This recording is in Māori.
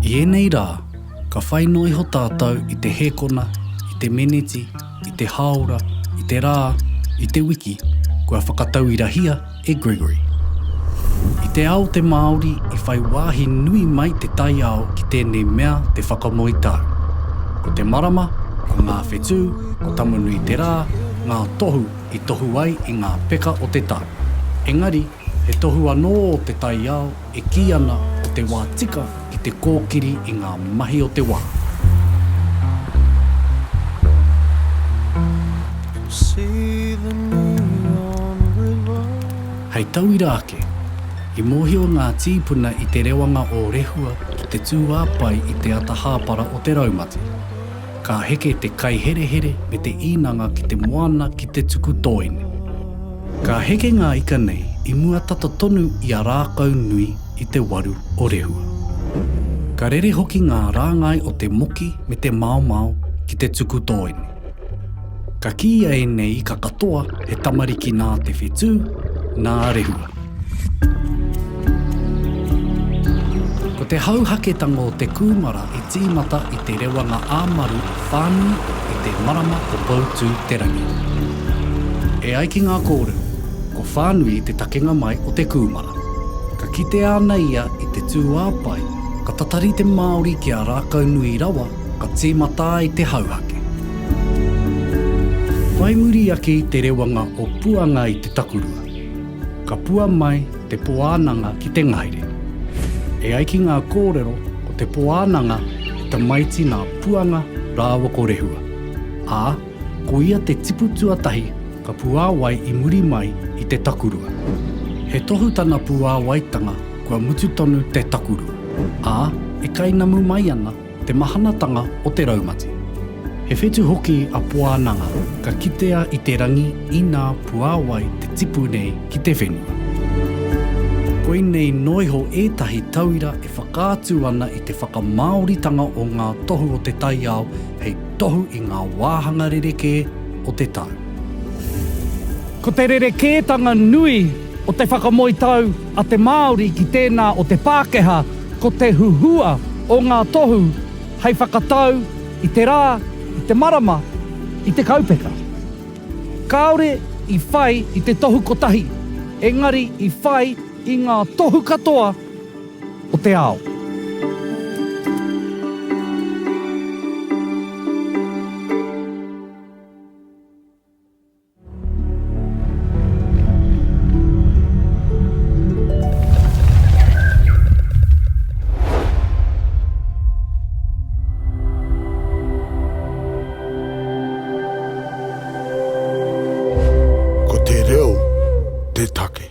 I ēnei rā, ka whai noa iho tātou i te hēkona, i te meneti, i te hāora, i te rā, i te wiki, kua whakatauirahia e Gregory. I te ao te Māori i whai wāhi nui mai te taiao ki tēnei mea te whakamoe tau. Ko te marama, ko ngā whetū, ko Tamanui-te-rā, ngā tohu i tohu ai i ngā peka o te tau. Engari, He tohu anō o te taiao e kī ana ko te wā tika ki te kōkiri i ngā mahi o te wā. Hei tauira ake, i mōhio ngā tīpuna i te rewanga o Rehua ki te tūāpae i te ata hāpara o te raumati. Ka heke te kaiherehere me te īnanga ki te moana ki te tuku tōene. Ka heke ngā ika nei i mua tata tonu i a Rākaunui i te waru o Rehua. Ka rere hoki ngā rāngai o te moki me te maomao ki te tuku tōene. Ka kīia ēnei ika katoa he tamariki nā Te Whetū, nā Rehua. Ko te hauhaketanga o te kūmara i tīmata i te rewanga ā-maru whānui i te marama o Poutū-te-rangi. E ai ki ngā kōrero, ko Whānui te takenga mai o te kūmara. Ka kitea ana ia i te tūāpae, ka tatari te Māori ki a Rākaunui rawa ka tīmata ai te hauhake. Whai muri ake i te rewanga o Puanga i te takurua. Ka pua mai te Poānanga ki te ngahere. E ai ki ngā kōrero, ko te Poānanga he tamaiti nā Puanga rāua ko Rehua, ā, ko ia te tipu tuatahi ka puāwai i muri mai i te takurua. He tohu tana puāwaitanga kua mutu tonu te takurua, ā, e kainamu mai ana, Te mahanatanga o te raumati. He whetu hoki a Poananga ka kitea i te rangi inā puāwai te tipu nei ki te whenua. Koinei noa iho ētahi tauira e whakaatu ana i te whakamāoritanga o ngā tohu o te taiao hei tohu i ngā wāhanga rerekē o te tau. Ko te rerekētanga nui o te whakamoe tau a te Māori ki tēnā o te Pākehā ko te huhua o ngā tohu hei whakatau i te rā, i te marama, i te kaupeka. Kāore i whai i te tohu kotahi, engari i whai i ngā tohu katoa o te ao. Ko te reo te take.